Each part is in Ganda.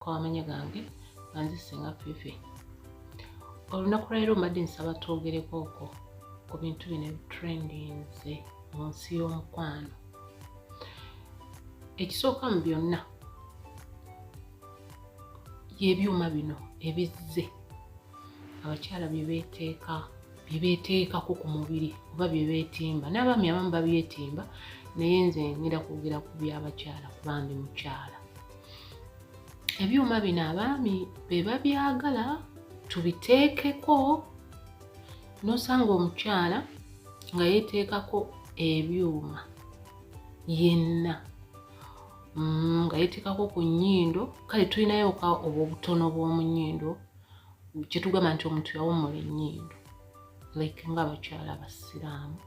kwamanya gange banze senga fifi olunaku lwaliro mbadde nsaba twogereko oko ku bintu bino ebitrendinze mu nsi y'omukwano ekisooka mu byonna yebyuma bino ebizze abakyala byebeteeka byebeteekako ku mubiri oba byebetimba n'abaami abamu babyetimba naye nze ngenda kwogera ku byabakyala kubandi mukyala ebyuma bino abaami be babyagala tubiteekeko n'osanga omukyala nga yeteekako ebyuma yenna mm, nga yeteekako ku nnyindo kale tulinayoka obwobutono bw'omu nnyindo kyetugamba nti omuntu yawummula ennyindo like nga abakyala abasiraamu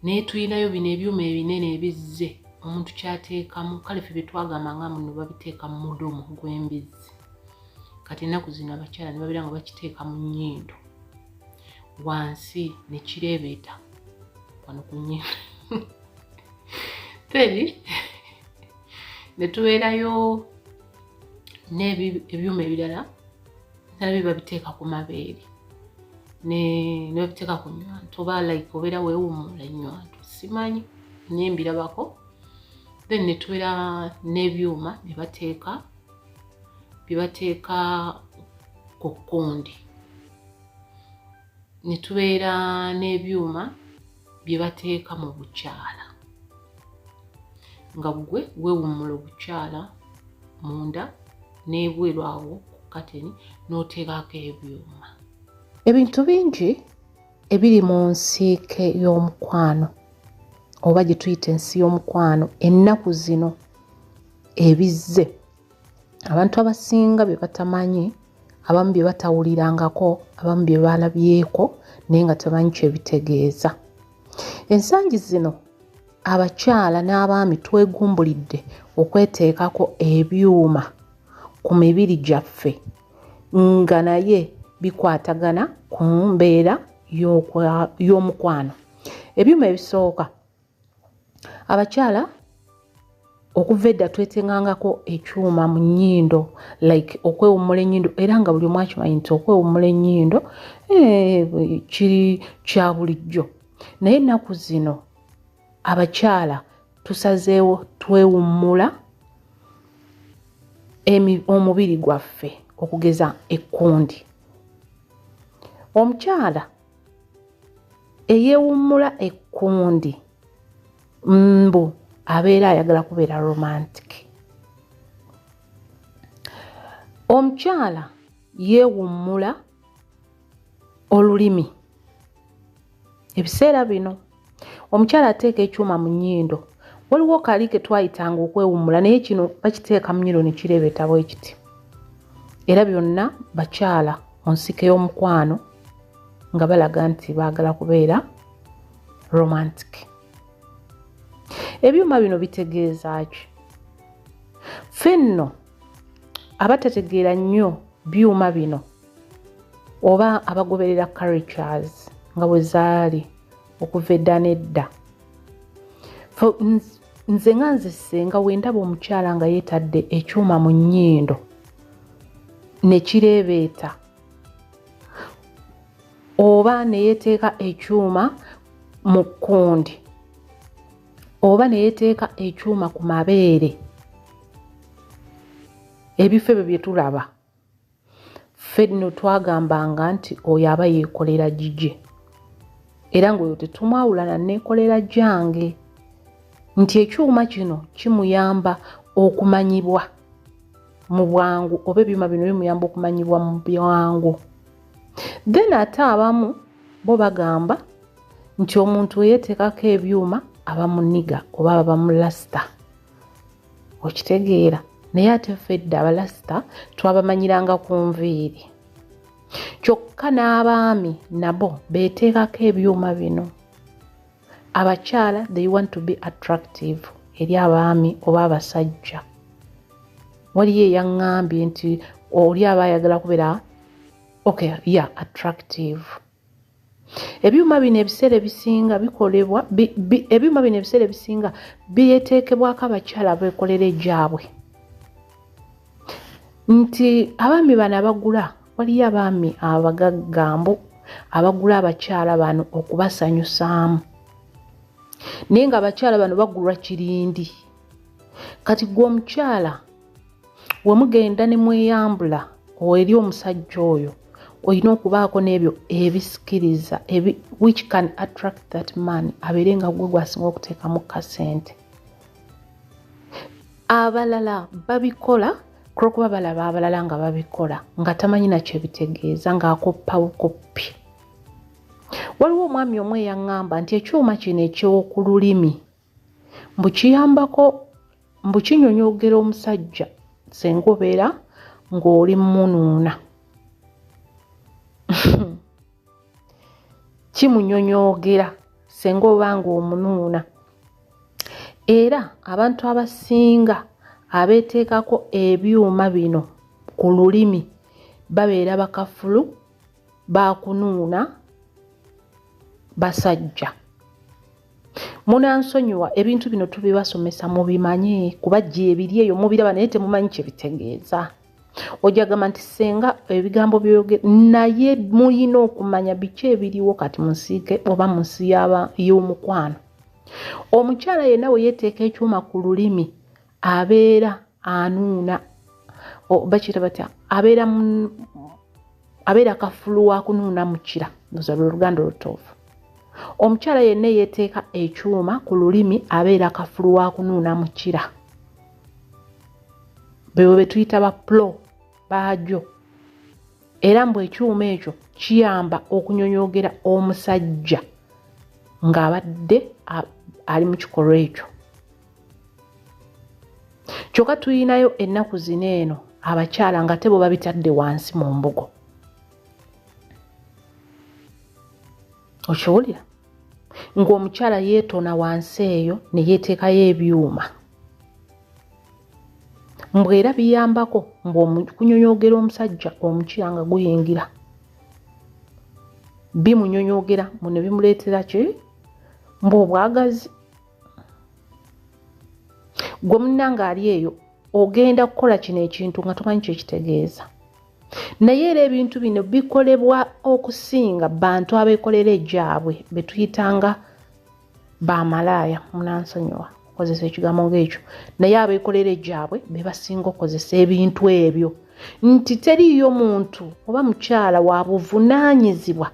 naye tulinayo bino ebyuma ebinene ebizze omuntu kyateekamu kale fe byetwagamba nga muno babiteeka mu mudomo gw'embizzi kati ennaku zino abakyala ne babeera nga bakiteeka mu nnyindo wansi ne kireebeeta wano ku nnyindo teri ne tubeerayo n'ebyuma ebirala nabyo babiteeka ku mabeere nebabiteeka ku nywanto oba like obeera wewumula enywanto simanyi naye mbirabako then netubeera n'ebyuma nebateeka byebateeka ku kundi ne tubeera n'ebyuma bye bateeka mu bukyala nga ggwe weewummula obukyala munda n'ebweru awo ku kateni n'oteekako ebyuma ebintu bingi ebiri mu nsiike y'omukwano oba gye tuyita ensi y'omukwano ennaku zino ebizze abantu abasinga bye batamanyi abamu bye batawulirangako abamu bye balabyeko naye nga tebanyi kyebitegeeza ensangi zino abakyala n'abaami twegumbulidde okweteekako ebyuma ku mibiri gyaffe nga naye bikwatagana ku mbeera y'omukwano ebyuma ebisooka abakyala okuva edda twetengangako ekyuma mu nnyindo like okwewummula ennyindo era nga buli omu akimanyi nti okwewummula ennyindo eh, kiri kya bulijjo naye ennaku zino abakyala tusazeewo twewummula omubiri gwaffe okugeza ekkundi omukyala eyewummula ekkundi mbu abeera ayagala kubeera romantic omukyala yeewummula olulimi ebiseera bino omukyala ateeka ekyuma mu nnyindo waliwo kali ke twayitanga okwewummula naye kino bakiteeka mu nnyindo ne kireebeeta bwe kiti era byonna bakyala mu nsike y'omukwano nga balaga nti baagala kubeera romantic ebyuma bino bitegeeza ki ffe nno abatategeera nnyo byuma bino oba abagoberera carictures nga bwe zaali okuva edda n'edda nze nga nze senga wendaba omukyala nga yeetadde ekyuma mu nnyindo ne kireebeeta oba ne yeeteeka ekyuma mu kkundi oba ne yeeteeka ekyuma ku mabeere ebifo ebyo bye tulaba ffe nno twagambanga nti oyo aba yeekolera gigye era ng'oyo tetumwawulana neekolera gyange nti ekyuma kino kimuyamba okumanyibwa mu bwangu oba ebyuma bino bimuyamba okumanyibwa mu bwangu then ate abamu bo bagamba nti omuntu eyeeteekako ebyuma aba muniga oba aba bamulasita okitegeera naye ate fedde abalasita twabamanyiranga ku nviiri kyokka n'abaami nabo beeteekako ebyuma bino abakyala they want to be attractive eri abaami oba abasajja waliyo eyaŋŋambye nti oli aba ayagala kubeera okay ya yeah, attractive ebyuma bino ebiseera ebisinga bikolebwa ebyuma bino ebiseera ebisinga byeteekebwako abakyala beekolera egyabwe nti abaami bano abagula waliyo abaami abagaggambo abagula abakyala bano okubasanyusaamu naye nga abakyala bano bagulwa kirindi kati gwe omukyala we mugenda ne mweyambula eri omusajja oyo olina okubaako n'ebyo ebisikiriza which can attract that man abeere nga gwe gwasinga okuteekamu kasente abalala babikola kulwokuba balaba abalala nga babikola nga tamanyi nakyo ebitegeeza ng'akoppa bukoppi waliwo omwami omu eyaŋŋamba nti ekyuma kino eky'oku lulimi mbu kiyambako mbu kinyonyogera omusajja senga obeera ng'oli munuuna kimunyonyogera senga oba ng'omunuuna era abantu abasinga abeeteekako ebyuma bino ku lulimi babeera bakafulu baakunuuna basajja munansonyiwa ebintu bino tubibasomesa mubimanye kuba gye ebiri eyo mubiraba naye temumanyi kye bitegeeza ojja gamba nti senga ebigambo byoyogera naye mulina okumanya biki ebiriwo kati mu nsiike oba mu nsi y'omukwano omukyala yenna we yeeteeka ekyuma ku lulimi abeera anuuna bakiyita batya abeera abeera kafulu wa kunuuna mukira ndoza lwe luganda olutuufu omukyala yenna eyeteeka ekyuma ku lulimi abeera kafulu wa kunuuna mukira bebo betuyita ba plo baajo era mbu ekyuma ekyo kiyamba okunyonyogera omusajja ng'abadde ali mu kikolwa ekyo kyokka tuyinayo ennaku zino eno abakyala nga tebo babitadde wansi mu mbugo okiwulira ng'omukyala yeetona wansi eyo ne yeeteekayo ebyuma mbwe era biyambako mbwekunyonyogera omusajja omukyira nga guyingira bimunyonyogera mune bimuleetera ki mbwe obwagazi gwe munnanga ali eyo ogenda kukola kino ekintu nga tomanyi kyekitegeeza naye era ebintu bino bikolebwa okusinga bantu abekolera egyabwe betuyitanga bamalaaya munansonyiwa okozesa ekigambo ngaekyo naye abekolera egyabwe bebasinga okozesa ebintu ebyo nti teriiyo muntu oba mukyala wabuvunaanyizibwa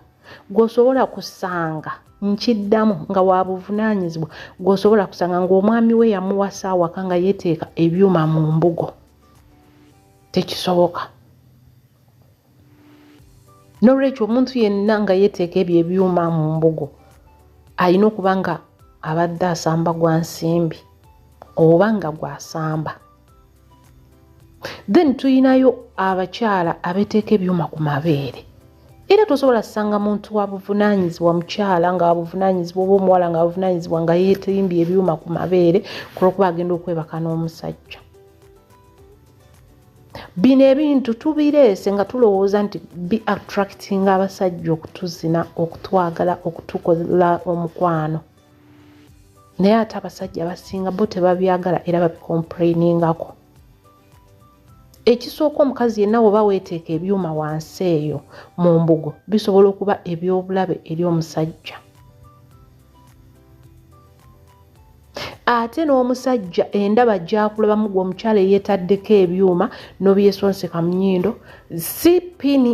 gwosobola kusanga nkiddamu nga wabuvunaanyizibwa gwosobola kusanga ngaomwami we yamuwasa awaka nga yeteeka ebyuma mu mbugo tekisoboka nolwekyo omuntu yenna nga yeteeka ebyo ebyuma mu mbugo alina okuba nga abadde asamba gwa nsimbi oba nga gwasamba then tuyinayo abakyala abeteeka ebyuma ku mabeere era tosobola sanga muntu wabuvunanyizibwa mukyala nga wabuvunanyizibwa oba omuwala nga wabuvunanyizibwa nga yetimbye ebyuma ku mabeere kulwokuba agenda okwebaka n'omusajja bino ebintu tubireese nga tulowooza nti bi attracting abasajja okutuzina okutwagala okutukola omukwano naye ate abasajja abasinga bo tebabyagala era babikomplainingako ekisooka omukazi yenna woba weeteeka ebyuma wansi eyo mu mbugo bisobola okuba ebyobulabe eri omusajja ate n'omusajja endaba gyakulabamu gwe omukyala eyeetaddeko ebyuma n'obyesonseka mu nyindo si pini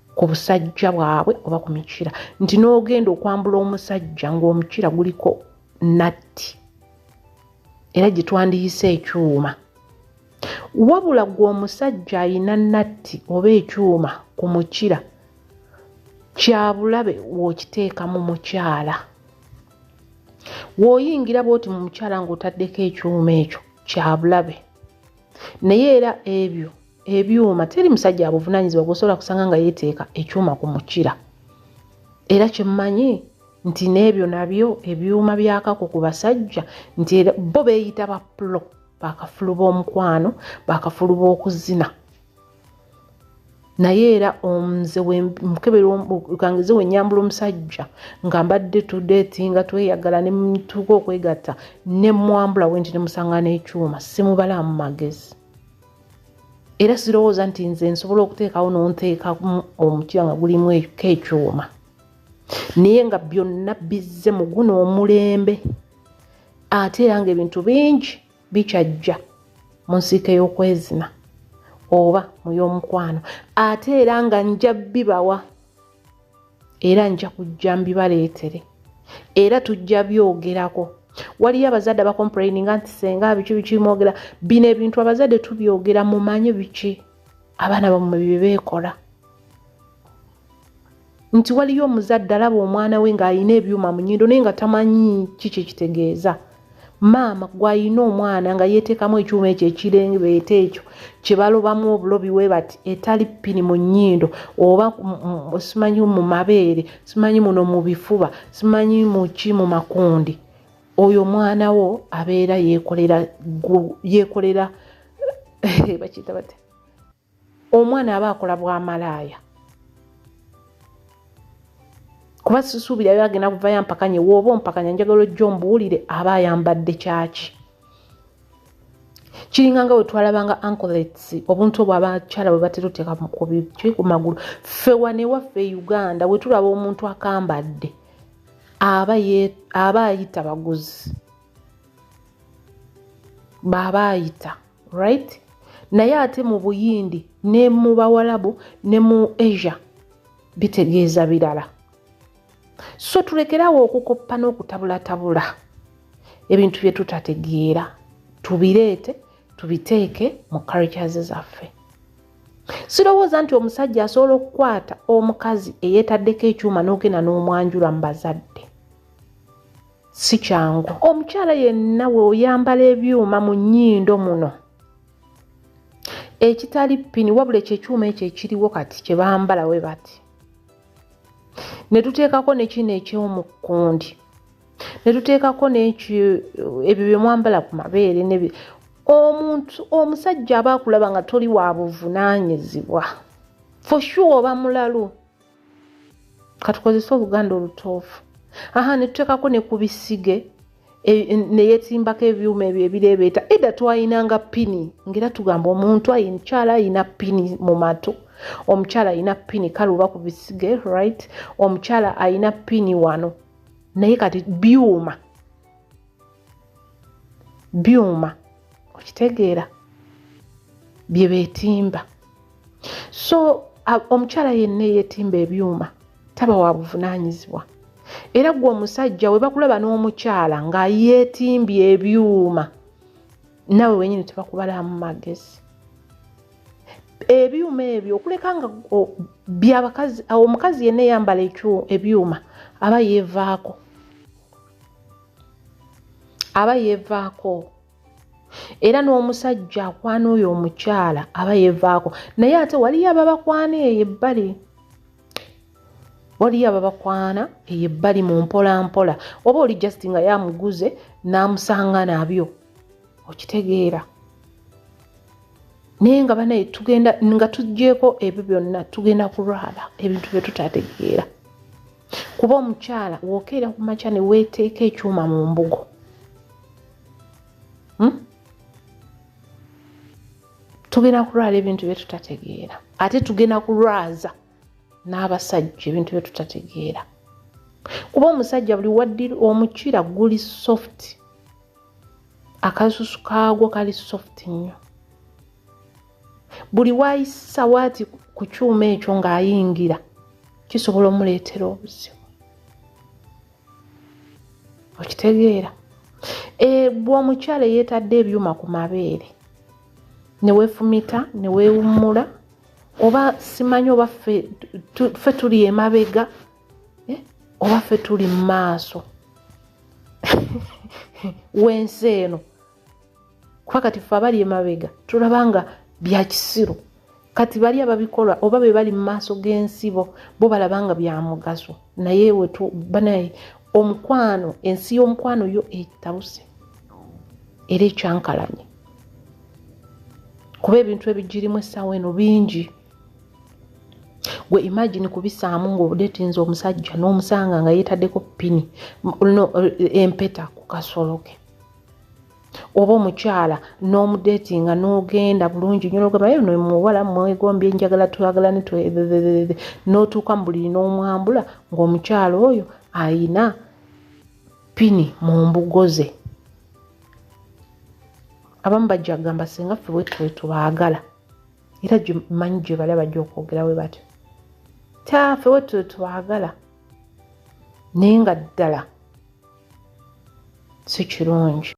ku busajja bwabwe oba ku mikira nti n'ogenda okwambula omusajja ng'omukira guliko natti era gye twandiyise ekyuma wabula gwe omusajja alina natti oba ekyuma ku mukira kyabulabe w'okiteeka mu mukyala w'oyingira bwoti mu mukyala ng'otaddeko ekyuma ekyo kyabulabe naye era ebyo ebyuma teri musajja abuvunanyizibwa gwosobola kusanga nga yeteeka ekyuma ku mukira era kyemmanyi nti n'ebyo nabyo ebyuma byakako ku basajja nti bo beeyita bapulo bakafulu b'omukwano bakafulu b'okuzina naye era omze wemukeberkangize wenyambula omusajja nga mbadde tudeti nga tweyagala nemutuuka okwegatta nemwambula wenti nemusanga n'ekyuma simubala mu magezi era sirowooza nti nze nsobola okuteekawo nonteekamu omutima nga gulimu eko ekyuma naye nga byonna bizze mu guno omulembe ate era nga ebintu bingi bikyajja mu nsiika ey'okwezina oba mu y'omukwano ate era nga nja bibawa era nja kujja mbibaleetere era tujja byogerako waliyo abazadde abakomplaininga nti senga biki bikimwogera bino ebintu abazadde tubyogera mumanye biki abaana bamwe byebeekola nti waliyo omuzadde alaba omwana we ng'alina ebyuma mu nyindo naye nga tamanyi kiki ekitegeeza maama gwalina omwana nga yeteekamu ekyuma ekyo ekirengebeeta ekyo kyebalobamu obulobi we bati etali pini mu nnyindo oba simanyi mu mabeere simanyi muno mu bifuba simanyi muki mu makundi oyo omwana wo abeera yekolera yekolera bakiyita bati omwana aba akola bwamalaaya kuba sisuubira yo agenda kuvayo ampakanye wooba ompakanya njagala ojja ombuwulire aba ayambadde kyaki kiringa nga wetwalabanga ancolets obuntu obwo abakyala bwe batera oteeka mukubiki ku magulu fewa newaffe e uganda wetulaba omuntu akambadde aba ayita baguzi baaba ayita right naye ate mu buyindi ne mu bawalabu ne mu asia bitegeeza birala so tulekerawo okukoppa n'okutabulattabula ebintu bye tutategeera tubireete tubiteeke mu cultures zaffe sirowooza nti omusajja asobola okukwata omukazi eyeetaddeko ekyuma n'ogenda n'omwanjula mu bazadde si kyangu omukyala yenna we oyambala ebyuma mu nnyindo muno ekitali pini wabula ekyo ekyuma ekyo ekiriwo kati kye bambala we bati ne tuteekako nekino ekyomukkundi ne tuteekako nekyo ebyo bye mwambala ku mabeere ne omuntu omusajja aba akulaba nga toli wa buvunaanyizibwa for sure oba mulalu katukozese obuganda olutoofu aha netuteekako ne ku bisige e, neyetimbako ebyuma ebyo ebireebeeta edda twayinanga pini ngaera tugamba omuntu amukyala ayina pini mu matu omukyala ayina pini kale oba ku bisige right omukyala ayina pini wano naye kati byuma byuma okitegeera bye beetimba so omukyala yenna eyeetimba ebyuma taba wa buvunaanyizibwa era gwe omusajja we bakulaba n'omukyala nga yeetimbye ebyuma nawe wenyini tebakubalamu magezi ebyuma ebyo okuleka nga byabakazi omukazi yenna eyambala ebyuma aba yeevaako aba yevaako era n'omusajja akwana oyo omukyala aba yevaako naye ate waliyo ababakwana eyo ebbali waliyo ababakwana eyo ebbali mu mpolampola oba oli just nga yamuguze n'amusanga nabyo okitegeera naye nga banaye tugenda nga tuggyeko ebyo byonna tugenda kulwala ebintu bye tutategeera kuba omukyala wokeera ku makya ne weeteeka ekyuma mu mbugo hmm? tugenda kulwala ebintu bye tutategeera ate tugenda kulwaza n'abasajja ebintu bye tutategeera kuba omusajja buli waddira omukira guli soft akasusu kaagwo kali soft nnyo buli waayisa waati ku kyuma ekyo ng'ayingira kisobola omuleetera obuzibu okitegeera eh, bwe omukyala eyeetadde ebyuma ku mabeere ne weefumita ne weewummula oba simanyi oba ffe tuli emabega eh, oba ffe tuli mu maaso w'ensi eno kuba kati fe abali emabega tulaba nga byakisiru kati bali ababikola oba be bali mu maaso g'ensibo bo balaba nga byamugaso naye wetu banaye omukwano ensi y'omukwano yo etabuse era ekyankalanye kuba ebintu ebigirimu essaawa eno bingi gwe imagine kubisaamu ngaobudetinza omusajja n'omusanga nga yeetaddeko pini no eh, empeta ku kasoloke oba omukyala n'omudeti nga n'ogenda bulungi nyo nogamba ye no muwala mwegombye njagala twagala ne twebebebebe n'otuuka mu buli n'omwambula ng'omukyala oyo ayina pini mu mbugo ze abamu bajja kugamba singa ffe wetwetubaagala era manyi gye bala bajja okwogera we batyo taffe wetwetwagala naye nga ddala si kirungi